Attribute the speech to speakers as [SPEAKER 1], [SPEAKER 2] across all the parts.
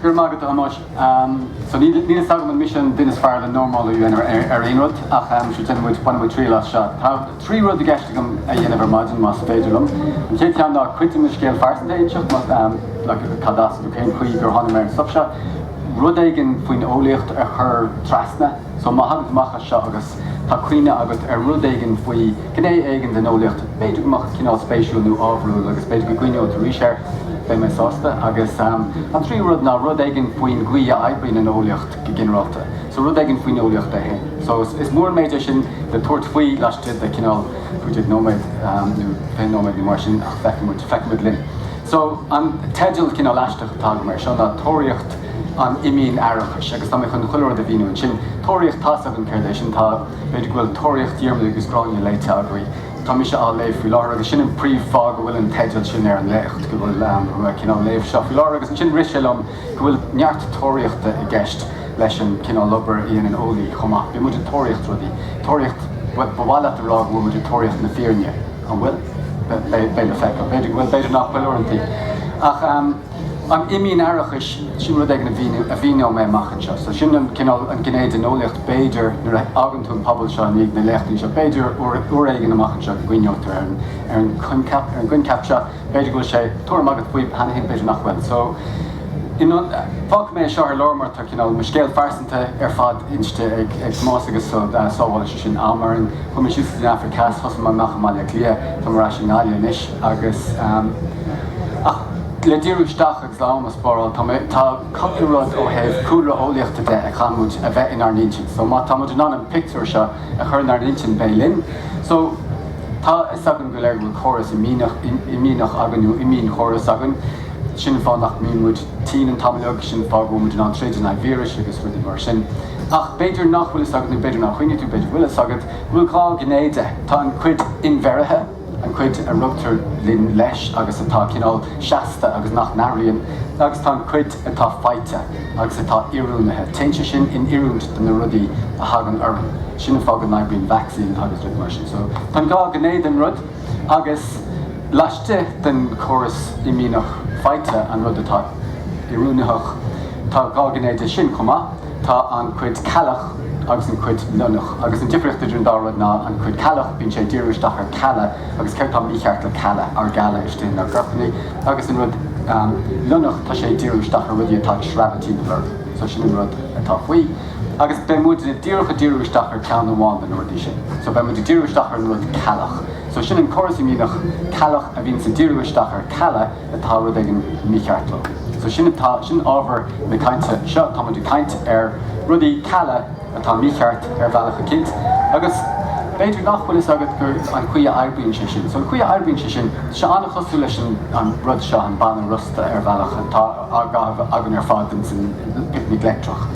[SPEAKER 1] Go raibh maith agat, a Thomáis. So níl fhios agam an mise an duine is fearr le normal a dhéanamh ar aon rud ach, um, sure, déanfaidh muid, bainfidh muid triail as seo. Trí rud i gceist agam a dhéanamh ar maidin, más féidir liom. An chéad cheann ná cuid de mo scéal phearsanta a inseacht, más ea, like, cad as nó cén chaoi gur tháinig mé ar an stuff seo. Rud éigin faoin eolaíocht a chur trasna. So má thagann tú amach as seo agus tá cuimhne agat ar rud éigin faoi ghné éigin den eolaíocht, b'fhéidir go mbeadh cineál spéisiúil nó ábharúil agus b'fhéidir go gcuimhneoidh tú arís air, beidh mé sásta. Agus an tríú rud ná rud éigin faoin gcaoi a oibríonn an eolaíocht. go ginearálta, so rud éigin faoin eolaíocht é féin. So is mór an méid é sin le tabhairt faoi laistigh de cineál cúig déag nóiméad nó fiche nóiméad nó mar sin ach feicfidh muid, feicfidh muid linn. So an teideal cineál aisteach atá agam air seo ná Tóraíocht an Imdhíon-fhaireachais agus tá mé chun chuile rud a mhíniú ansin. Tóraíocht, tá's agam céard é sin, tá, b'fhéidir go bhfuil Tóraíocht Dhiarmada agus Ghráinne léite agaibh, tá mise á léamh faoi láthair agus sin an príomh-fáth go bhfuil an teideal sin ar an léacht, go bhfuil, go bhfuil mé cineál léamh seo faoi láthair agus ansin rith sé liom, go bhfuil neart tóraíochta i gceist leis an cineál obair a dhéanann eolaí chomh maith. Bíonn muid ag tóraíocht rudaí. Tóraíocht, bhuel, ba mhaith leat a rá go bhfuil muid ag tóraíocht na fírinne, an bhfuil? Beidh le feiceáil. B'fhéidir go bhfuil, b'fhéidir nach bhfuil uaireantaí. Ach an imdhíon-fhaireachas, sin rud éigin a mhíneoidh mé amach anseo. So sin an cineál, an gné den eolaíocht b'fhéidir nuair a fhágann tú an puball seo i ndiaidh na léachtaí seo, b'fhéidir uair éigin amach anseo go gcuimhneofar ar an coincheap, ar an gcoincheap seo. B'fhéidir go bhfuil sé tuairim agat faoi cheana féin, b'fhéidir nach bhfuil. So, you know, fágfaidh mé é seo ar lár mar tá cineál mo scéal phearsanta ar fad inste ag Tomás agus sábhálann sé sin am orainn. Chuaigh mé síos go dtí an Afraic Theas, thosaigh mé amach i mBaile Átha Cliath, tá mé ar ais i nGaillimh anois agus ehm, ach le díriú isteach agus l'am a spáráil, tá mé, tá cupla rud ó thaobh cúlra eolaíochta de a chaithfidh muid a bheith inár n-intinn. So má tá muid in ann an pictiúr seo a chur inár n-intinn beidh linn. So. Tá a fhios againn go léir go bhfuil córas imdhíonach againn, nó imdhíon-chóras againn. Sin an fáth nach mbíonn muid tinn an t-am uilig, sin an fáth go bhfuil muid in ann troid in aghaidh víris agus rudaí mar sin. Ach b'fhéidir nach bhfuil fhios agat, nó b'fhéidir nár chuimhnigh tú, b'fhéidir go bhfuil fhios agat, go bhfuil dhá ghné de. Tá an chuid inbheirthe, an chuid a rugtar linn leis agus atá cineál seasta agus nach n-athraíonn, agus tá an chuid. atá faighte agus atá oiriúnaithe, téann sé sin in oiriúint do na rudaí a thagann orainn, sin an fáth go n-oibríonn vacsaín agus rudaí mar sin. So tá an dhá ghné den rud agus laistigh den chóras imdhíonach faighte, an rud atá oiriúnaitheach, tá dhá ghné de sin chomh maith, tá an chuid ceallach agus an chuid lionnach. Agus an difríocht idir an dá rud ná an chuid ceallach, bíonn sé ag díriú isteach ar cealla agus céard atá mícheart le cealla, ár gcealla istigh inár gcorpanna. Agus an rud lionnach, tá sé ag díriú isteach ar rudaí atá ag sreabhadh timpeall orainn. So sin an rud atá faoi. Agus beidh muid díreach ag díriú isteach ar ceann amháin de na rudaí sin. So beidh muid ag díriú isteach ar an rud ceallach. So sin an córas imdhíonach ceallach a bhíonns ag díriú isteach ar cealla atá rud éigin mícheart leo. So sin atá, sin ábhar na cainte seo, tá muid ag caint ar rudaí cealla. atá mícheart ar bhealach eicínt, agus b'fhéidir nach bhfuil fhios agat go an chaoi a oibríonn sé sin. So an chaoi a oibríonn sé sin, tá sé an-chosúil leis an an rud seo, an banna rosta ar bhealach, atá á gcaitheamh againn ar fad ins an Picnic Leictreach.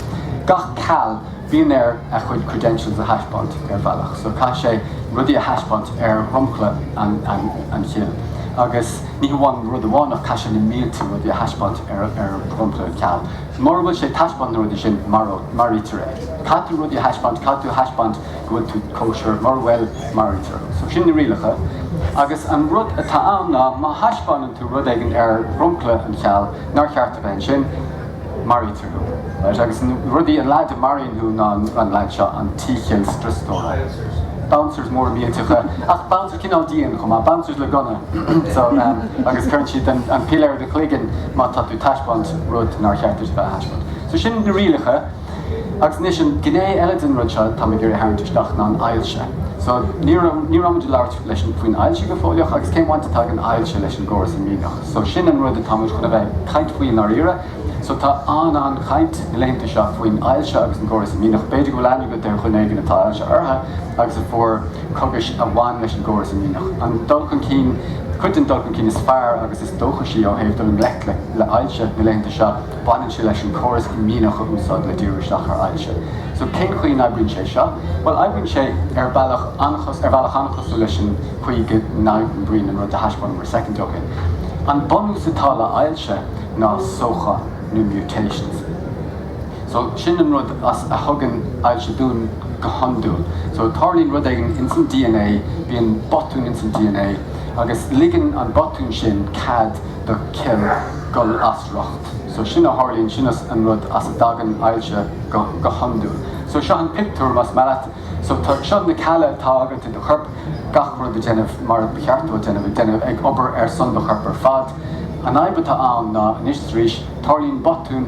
[SPEAKER 1] Gach ceall, bíonn air a chuid credentials a thaispeáint, ar bhealach. So caithfidh sé rudaí a thaispeáint ar dhromchla an an an chill, agus ní hamháin rud amháin ach caithfidh sé na mílte rudaí a thaispeáint ar ar dhromchla an ceall. Mura bhfuil sé ag taispeáint na rudaí sin, maraítear é. Caithfidh tú rudaí a thaispeáint, caithfidh tú a thaispeáint go bhfuil tú kosher, mura bhfuil, maraítear thú. So sin na rialacha. Agus an rud atá ann ná, má thaispeáineann tú rud éigin ar dhromchla an cheall nár cheart a bheith ansin, maraítear thú. Right, agus na rudaí, an leaid a maraíonn thú ná an leaid seo, an T-chill scriostóra. Bouncers móra millteacha, ach bouncers. cineál dian chomh maith, bouncers le gunna so agus cuireann siad an piléar i do chloigeann má tá tú taispeáint rud nár cheart duit a bheith a thaispeáint. So sin na rialacha agus anois an gné eile den rud seo táim ag iarraidh a tharraingt isteach ná an ailse. So ní raibh ní raibh muid ag labhairt leis faoin ailse go fóilleach agus cén bhaint atá ag an ailse leis an gcóras imdhíonach. So sin an rud atá muid chun a bheith ag caint faoi i ndáiríre. So tá an-an-chaint na laethanta seo faoin ailse agus an gcóras imdhíonach. B'fhéidir go bhfuil aithne agat ar dhuine éigin atá ailse orthu agus a fuair cogais a bhain leis an gcóras imdhíonach. An dul chun cinn, cuid den dul chun cinn is fearr agus is dóchaisí ó thaobh dul i ngleic le hailse na laethanta seo, baineann sé leis an córas imdhíonach a úsáid le díriú isteach ar ailse. So cén chaoi an oibríonn sé seo? Bhuel oibríonn sé ar bhealach an-chosúil, ar bhealach an-chosúil leis an chaoi go n-oibríonn an rud a thaispeánamar soicind ó shin. An bunús atá le hailse, ná sóchán nó mutations. So, sin an rud a thugann ailse dúinn go hiondúil. So, tarlaíonn rud éigin ins an DNA, bíonn botún ins an DNA, agus ligeann an botún sin cead do cill dhul as riocht. So, sin a tharlaíonn, sin an rud as a dtagann ailse go hiondúil. So, seo an pictiúr, más maith leat. So, seo na cealla atá agat i do chorp, gach rud ag déanamh mar ba cheart dó a déanamh, ag déanamh, ag obair ar son do choirp ar fad. An fhadhb atá ann ná, anois is arís, tarlaíonn botún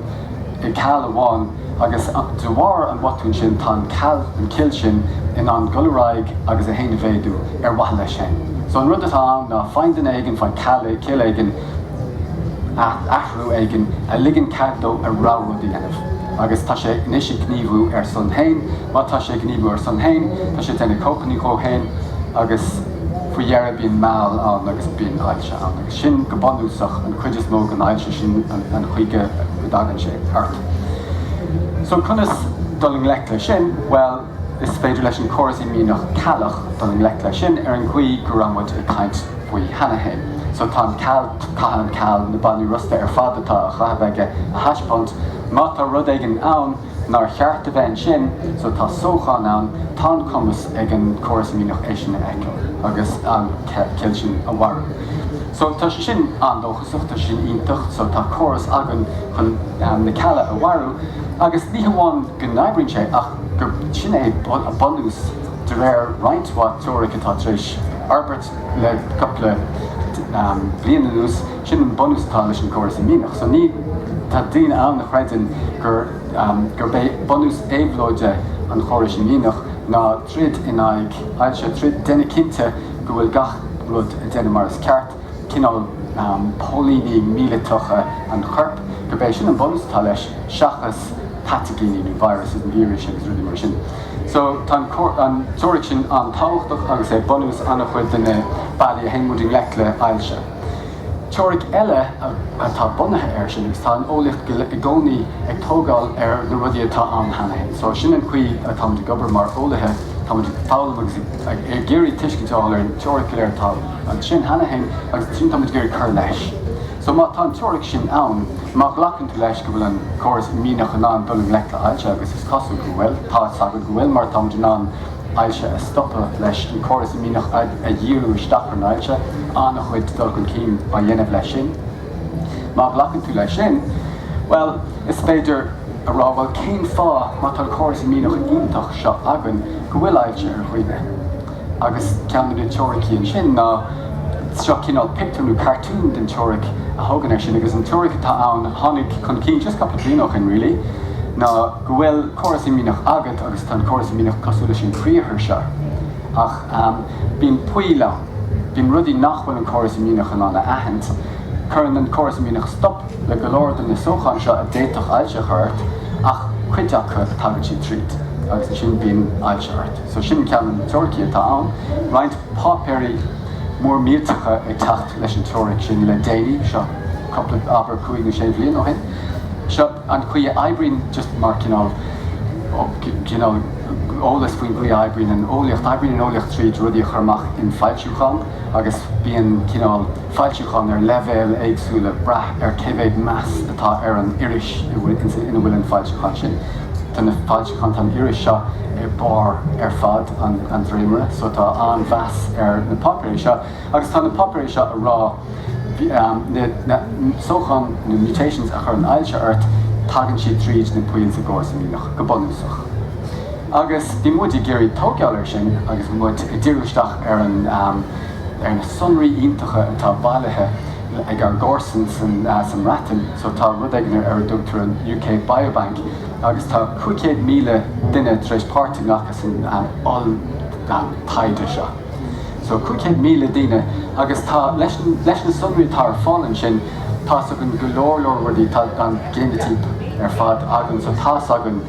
[SPEAKER 1] i gceall amháin agus de bharr an bhotúin sin tá an ceall, an chill sin in ann dul ar aghaidh agus é féin a mhéadú ar mhaithe leis féin. So an rud atá ann ná faigheann duine éigin, faigheann ceall, cill éigin, athrú éigin a ligeann cead dó a rogha rud a dhéanamh agus tá sé anois ag gníomhú ar a son féin. Má tá sé ag gníomhú ar a son féin, tá sé ag déanamh cóipeannaí dhó féin agus faoi dheireadh bíonn meall ann agus bíonn ailse. Agus sin go bunúsach an chuid is mó den ailse, sin an chaoi go dtagann sé ort. So conas dul i ngleic leis sin? Bhuel, is féidir leis an gcóras imdhíonach ceallach dul i ngleic leis sin ar an gcaoi go raibh muid ag caint faoi cheana féin. So tá an ceall, caithfidh an ceall na bainní rosta ar fad atá á chaitheamh aige a thaispeáint, má tá rud éigin ann, nár cheart a bheith ansin so tá sóchán ann, tá an cumas ag an gcóras imdhíonach é sin a fheiceáil agus an chill sin a mharú. So tá sé sin an-dóchasach, tá sé sin iontach so tá córas againn chun na cealla a mharú agus ní hamháin go n-oibríonn sé ach gur sin é a bunús de réir roinnt mhaith teoiric atá tar éis forbairt le cupla bliain anuas. Sin an bunús atá leis an gcóras imdhíonach. So ní, tá daoine ann a chreideann gur, gurb é bunús éabhlóide an chórais imdhíonach ná troid in aghaidh ailse, tríd déanamh cinnte go bhfuil gach rud ag déanamh mar is ceart, cineál póilíní míleatacha an choirp, gurb é sin an bunús atá leis seachas pataigíní nó viruses nó víris agus rudaí mar sin. So tá an teoiric sin an-tábhachtach agus é bunús an-chuid de na bealaí a théann muid i ngleic le hailse. Teoiric eile atá bunaithe air sin, agus tá an eolaíocht i gcónaí ag tógáil ar na rudaí atá ann cheana féin, só sin an chaoi atáimid ag obair mar eolaithe, táimid ag foghlaim agus ag iarraidh tuiscint a fháil ar an teoiric go léir atá ansin cheana féin agus ansin táimid ag iarraidh cur leis. Só má tá an teoiric sin ann, má ghlacann tú leis go bhfuil an córas imdhíonach in ann dul i ngleic le hailse, agus is cosúil go bhfuil, tá's agat go bhfuil mar táimid in ann, ailse a stopadh, leis an gcóras imdhíonach a dhíriú isteach ar an ailse, an-chuid dul chun cinn á dhéanamh leis sin. Má ghlacann tú leis sin, bhuel, is féidir a rá, bhuel, cén fáth, má tá an córas imdhíonach iontach seo againn, go bhfuil ailse ar dhuine? Agus ceann de na teoiricí ansin ná, seo cineál pictiúr nó cartún den teoiric a thógann air sin, agus an teoiric atá ann, a tháinig chun cinn just cupla bliain ó shin really, ná, go bhfuil córas imdhíonach agat agus tá an córas imdhíonach cosúil leis an gcriathar seo ach bíonn poill ann, bíonn rudaí nach bhfuil an córas imdhíonach in ann a aithint. Cuireann an córas imdhíonach stop le go leor de na sócháin seo a d'fhéadfadh ailse a chur ort ach cuid acu, tagann siad tríd agus ansin bíonn ailse ort. So sin ceann de na teoiricí atá ann. Roinnt páipéirí mór millteacha ag teacht leis an teoiric sin le déanaí, seo cúpla, abair, cúig nó sé bhliain ó shin. Seo. An chaoi a oibríonn, just mar cineál, cineál eolas faoin gcaoi a oibríonn an eolaíocht, oibríonn an eolaíocht tríd rudaí a chur amach in foilsiúcháin agus bíonn cineál foilsiúcháin ar leibhéil éagsúla, brath ar cé mhéad meas atá ar an iris ina bhfuil an foilsiúchán sin. Tá na foilsiúcháin, tá an iris seo ar barr ar fad an dréimire so tá an-mheas ar na páipéirí seo. Agus tá na páipéirí seo a rá na sócháin, na mutations, a chuireann ailse ort, tagann siad tríd na poill sa gcóras imdhíonach, go bunúsach. Agus bhí muid ag iarraidh tóigeáil ar sin agus muid ag diriú isteach ar an, ar na sonraí iontacha atá bailithe ag ár gcomharsain san, sa mBreatain. So tá rud éigin ar a dtugtar an UK Biobank agus tá 500,000 duine tar éis páirt a ghlacadh san oll-taighde seo. so 500,000 duine agus tá, leis na sonraí atá ar fáil ansin, tá's againn go leor leor rudaí, tá an géinitíp ar fad againn, so tá's againn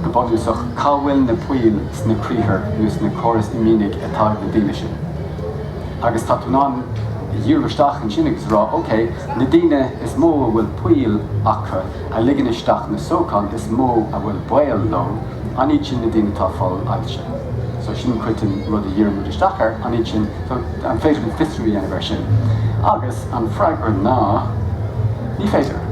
[SPEAKER 1] go bunúsach cá bhfuil na poill sna criathar nó sna córais imdhíonaigh atá ag na daoine sin. Agus tá tú in ann díriú isteach ansin agus a rá, ok, na daoine is mó a bhfuil poill acu, a ligeann isteach na sócháin is mó a bhfuil baol leo, an iad sin na daoine atá fáil ailse? So sin cuid den rud a dhírionn muid isteach air, an iad sin, so an féidir linn fiosrú a dhéanamh ar sin? Agus an freagra ná ní féidir.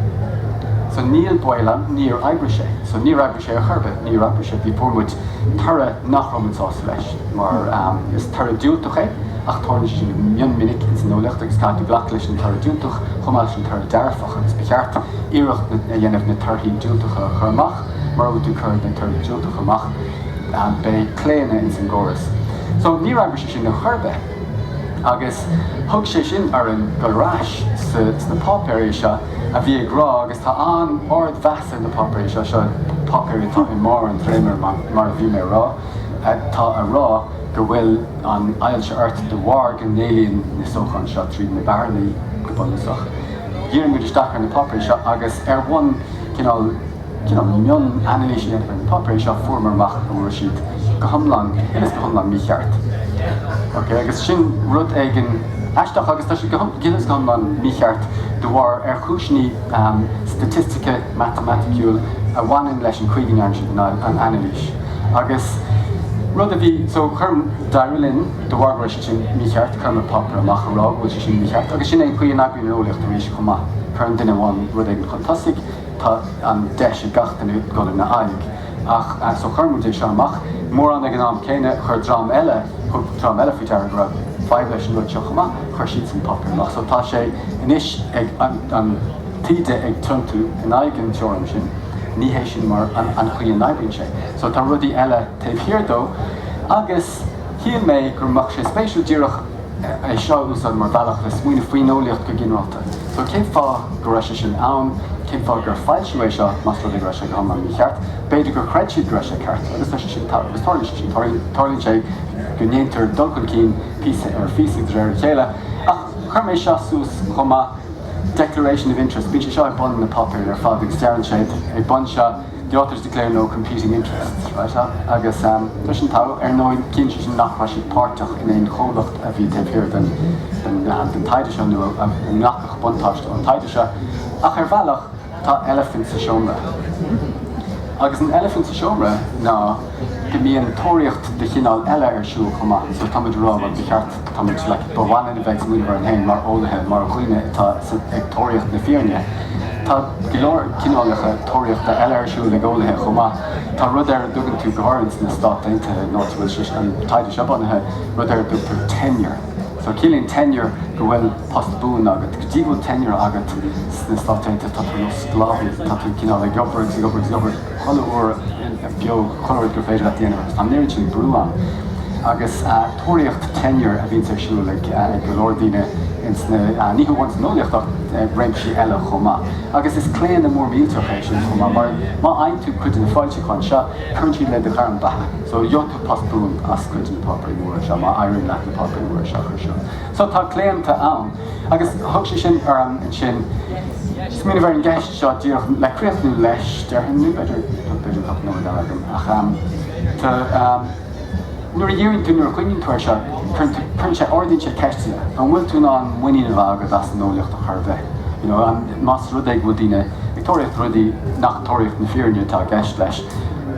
[SPEAKER 1] So ní baileach, níor oibrigh sé. So níor oibrigh sé ar chor ar bith, níor oibrigh sé. Bhí, fuair muid toradh nach raibh muid sásta leis mar is toradh diúltach é ach tarlaíonn sé sin go mion minic ins an eolaíocht agus caithfidh tú glacadh leis an toradh diúltach chomh maith leis an toradh dearfach. Agus ba cheart iarracht a dhéanamh na torthaí diúltacha a chur amach? Mura bhfuil tú ag cur na torthaí diúltacha amach, beidh claonadh ins an gcóras. So, ní raibh sé sin ar chor ar bith. Agus thug sé sin orainn dul ar ais sna páipéirí seo a bhí ag rá, agus tá an-ard mheas ar na páipéirí seo, seo páipéirí atá i mbarr an dréimire mar a bhí mé a rá, tá a rá go bhfuil an ailse ort de bharr go n-éalaíonn na sócháin seo tríd na bearnaí go bunúsach. dhírigh muid isteach ar na páipéir seo agus ar bhonn cineál mion-anailíse a dhéanamh ar na páipéir seo fuaireamar amach go bhfuil siad go hiomlán, uilig is go hiomlán mícheart. Ok, agus sin rud éigin aisteach agus tá siad uilig is go hiomlán mícheart de bharr ar chúiseanna staitistice, matamaiticiúil a bhaineann leis an chaoi go ndearna siad an anailís. Agus rud a bhí, so chuir, d'éirigh linn de bharr go raibh siad. Sin mícheart, chuir muid páipéar amach a rá go bhfuil sé sin mícheart, agus sin é an chaoi a n-oibríonn an eolaíocht arís chomh maith, cuireann duine amháin rud éigin chun tosaigh, tá an deis ag gach duine dul ina aghaidh. Ach, so chuir muid é seo amach, mórán ag an am céanna, chuir dream eile, thug dream eile faoi deara go raibh fadhb leis an rud seo chomh maith, chuir siadsan páipéar amach. So tá sé anois an taoide ag tiontú in aghaidh an teoirim sin, ní hé sin mar an chaoi a n-oibríonn sé. So tá rudaí eile taobh thiar dó, agus. Shíl mé go mbeadh sé spéisiúil díreach é seo a úsáid mar bhealach le smaoineamh faoin eolaíocht go ginearálta. So, cén fáth go raibh sé sin ann? Cén fáth gur foilsíodh é seo, más rud é go raibh sé go hiomlán mícheart? B'fhéidir gur chreid siad go raibh sé ceart, agus tarlaíonn sé sin, tarlaíonn sé sin. Tarlaíonn sé go ndéantar dul chun cinn píosa ar phíosa de réir a chéile. Ach chuir mé seo suas chomh maith, Declaration of Interest, bíonn sé seo ag bun na páipéir ar fad, agus deireann siad ag bun seo, the authors declare no competing interests, right, agus tuigeann tú, ar ndóigh, ciallaíonn sé sin nach raibh siad páirteach in aon chomhlacht a bhí taobh thiar den taighde seo nó a nglacfadh buntáiste ón taighde seo, ach ar bhealach, tá eilifint sa seomra. Agus an eilifint sa seomra ná go mbíonn tóraíocht de chineál eile ar siúl chomh maith, so tá muid a rá, bhuel, ba cheart, Tá muid, ba mhaith linn a bheith ag smaoineamh orainn féin mar eolaithe, mar dhaoine atá ag tóraíocht na fírinne. Tá go leor cineálacha tóraíochta eile ar siúl ag eolaithe chomh maith. Tá rud ar a dtugann tú, go háirithe sna Stáit Aontaithe, an áit a bhfuil sé, an taighde seo bunaithe, rud ar a dtugtar tenure. So ciallaíonn tenure go bhfuil post buan agat. Go dtí go bhfuil tenure agat sna Stáit Aontaithe, tá tú ar nós sclábhaí, tá tú cineál ag obair agus ag obair agus ag obair. Chuile uair beo, chuile rud gur féidir leat a dhéanamh, tá an oiread sin brú ann. Agus tóraíocht tenure a bhíonns ar siúl ag go leor daoine ins na, ní hamháin san eolaíocht ach réimsí eile chomh maith. Agus is claonadh mór millteach é sin chomh maith, mar má fhaigheann tú cuid de na foilseacháin seo, cuireann siad le do ghairm bheatha. So, gheobhaidh tú post buan as cuid de na páipéirí móra seo, má éiríonn leat na páipéirí móra seo a chur suas. So, tá claonta ann. Agus thug sé sin orm ansin smaoineamh ar an gceist, seo díreach le críochnú leis, déarfainn, nó b'fhéidir go bhfuil cúpla nóiméad eile agam, ach ehm, tá ehm, nuair a dheireann tú, nuair a chuimhníonn tú air seo, cuireann tú, cuireann sé, ardaíonn sé ceisteanna, an bhfuil tú in ann muinín a bheith agat as an eolaíocht chor ar bith, you know, an, más rud é go bhfuil daoine ag tóraíocht rudaí nach tóraíocht na fírinne atá i gceist leis,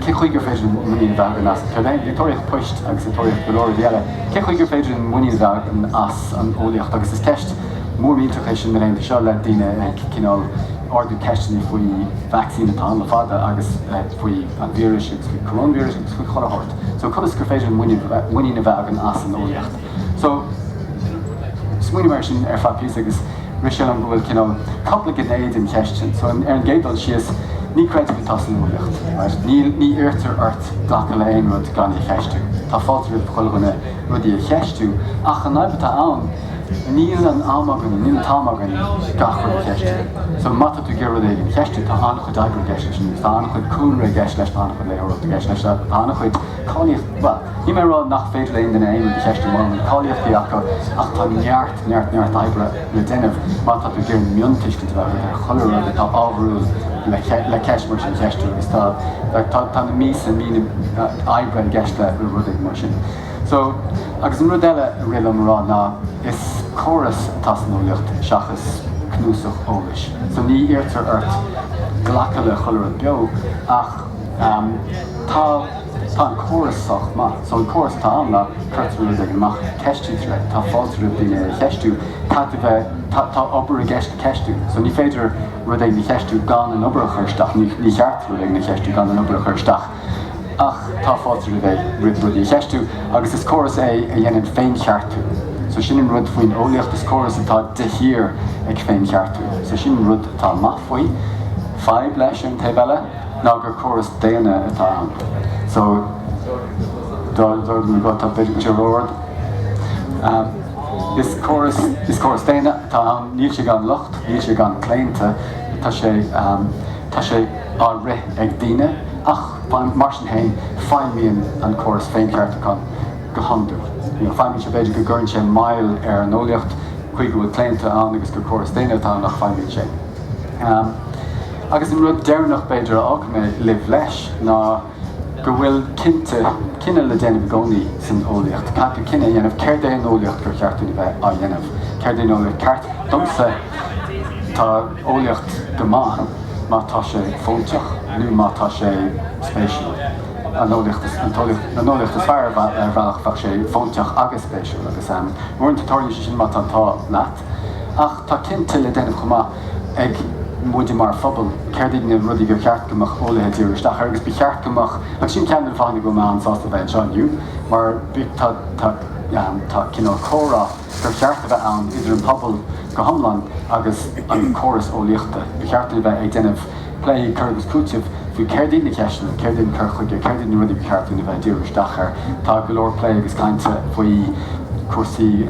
[SPEAKER 1] cé chuige ar féidir linn muinín a bheith againn as, tá siad ag tóraíocht poist agus ag tóraíocht go leor rudaí eile, cé chuige ar féidir linn muinín a bheith againn as an eolaíocht agus is ceist, Mhór mhillteach í sin na laethanta seo le daoine ag cineál ardú ceisteanna faoi vacsaín atá ann le fada agus faoi an víris agus faoi coróinvíris agus faoi chuile shórt. So conas gur féidir linn muinín a bheith againn as an eolaíocht? So smaoinigh mé air sin ar feadh píosa agus rith sé liom go bhfuil cineál cupla gné den cheist sin. So ar an gcéad dul síos, ní creideamh atá san eolaíocht, right? Ní ní iarrtar ort glacadh le aon rud gan é a cheistiú. Tá fáilte roimh chuile dhuine rudaí a cheistiú ach an fhadhb atá ann Níl an t-am againn, níl an t-am againn gach rud a cheistiú. So má tá tú ag iarraidh rud éigin a cheistiú, tá an-chuid oibre i gceist leis you know, tá an-chuid cúlra i gceist leis, tá an-chuid léitheoireachta i gceist leis, tá an-chuid cáilíochtaí, bhuel, níl mé ag rá nach féidir le haon duine aon rud a cheistiú mura bhfuil cáilíochtaí acu ach tá neart, neart, neart oibre le déanamh má tá tú ag iarraidh miontuiscint a bheith agat ar chuile rud atá ábharúil le ceist mar sin a cheistiú agus tá, tá na míosa, míonna oibre i gceist le rud éigin mar sin. So, agus an rud eile a rith liom a rá ná, is córas atá sa eolaíocht seachas cnuasach eolais. So ní iarrtar ort glacadh le chuile rud beo ach tá an córas sách maith. So an córas atá ann ná, cuirtear rud éigin amach, ceistítear é, tá fáilte roimh daoine é a cheistiú, tá tú bheith, tá obair i gceist le ceistiú. So ní féidir rud éigin a cheistiú gan an obair a chur isteach, ní cheart rud éigin a cheistiú gan an obair a chur isteach. Ach tá fáilte roimh é roimh rudaí a cheistiú, agus is córas é a dhéanann féincheartú, so sin an rud faoin eolaíocht, is córas atá de shíor ag féincheartú, so sin an rud atá maith faoi. Fadhb leis, ar an taobh eile, ná gur córas daonna atá ann. So, dá mo ghuth, tá b'fhéidir go ró-ard, is córas, is córas daonna atá ann, níl sé gan locht, níl sé gan claonta, tá. Tá sé á rith ag daoine, ach mar sin féin, feidhmíonn an córas féincheartúcháin go hiondúil. Feidhmíonn sé, b'fhéidir go gcuireann sé moill ar an eolaíocht, toisc go bhfuil claonta ann agus gur córas daonna atá ann, ach feidhmíonn sé. Agus an rud deireanach, b'fhéidir, a fhágfaidh mé sibh leis ná, go bhfuil cinnte, cinneadh le déanamh i gcónaí san eolaíocht, caithfear, cinneadh a dhéanamh céard é an eolaíocht gur cheart dúinn a bheith á dhéanamh, céard é an eolaíocht ceart. Domsa, tá eolaíocht go maith má tá sé fóinteach nó má tá sé spéisiúil. An eolaíocht is, an t-eolaíocht, an eolaíocht is fearr, ar bhealach, bheadh sé fóinteach agus spéisiúil agus, uaireanta, tarlaíonn sé sin má tá an t-ádh leat. Ach tá cinnte le déanamh chomh maith. ag muide mar phobal, céard iad na rudaí gur cheart go mbeadh eolaithe ag díriú isteach air agus ba cheart go mbeadh, agus sin ceann de na fáthanna go bhfuil mé an-sásta a bheith anseo inniu mar tá, tá, tá cineál comhrá gur cheart a bheith ann idir an pobal go hiomlán agus an córas eolaíochta. Ba cheart dúinn a bheith ag déanamh plé, cur agus cúiteamh faoi céard iad na ceisteanna, céard é an cur chuige, céard iad na rudaí ba cheart dúinn a bheith ag díriú isteach air. Tá go leor plé agus cainte faoi chúrsaí.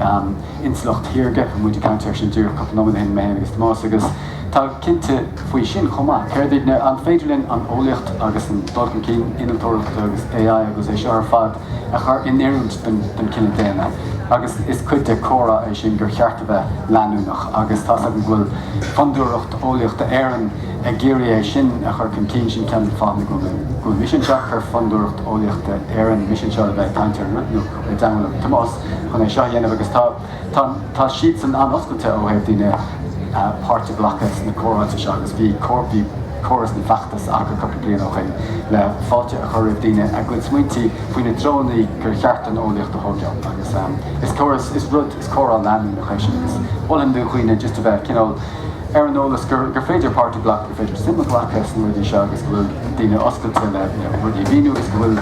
[SPEAKER 1] intleacht shaorga, muid ag caint air sin díreach cúpla nóiméad ó shin, mé féin agus Tomás, agus tá cinnte faoi sin chomh maith. Céard é, an féidir linn an eolaíocht agus an dul chun cinn innealtóireachta agus AI agus é seo ar fad a chur in oiriúint don chine daonna? Agus is cuid de chomhrá é sin gur cheart a bheith leanúnach agus tá's agam go bhfuil Fondúireacht Eolaíochta Éireann ag iarraidh é sin a chur chun cinn, sin ceann de na fáthanna go bhfuil mise anseo, chuir Fondúireacht Eolaíochta Éireann mise anseo le bheith ag caint ar an rud, nó. i dteannta Tomás chun é seo a dhéanamh agus tá siadsan an-oscailte ó thaobh daoine páirt a ghlacadh sna comhráite seo agus bhí córas nó feachtas acu cúpla bliain ó shin le fáilte a chur roimh daoine a gcuid smaointí faoi na treonna gur cheart don eolaíocht a thóigeáil agus is córas, is rud, is comhrá leanúnach é sin agus mholfainn do dhaoine just a bheith cineál ar an eolas gur féidir páirt a ghlacadh, gur féidir suim a ghlacadh sna rudaí seo agus go bhfuil daoine oscailte le rudaí a mhíniú agus go bhfuil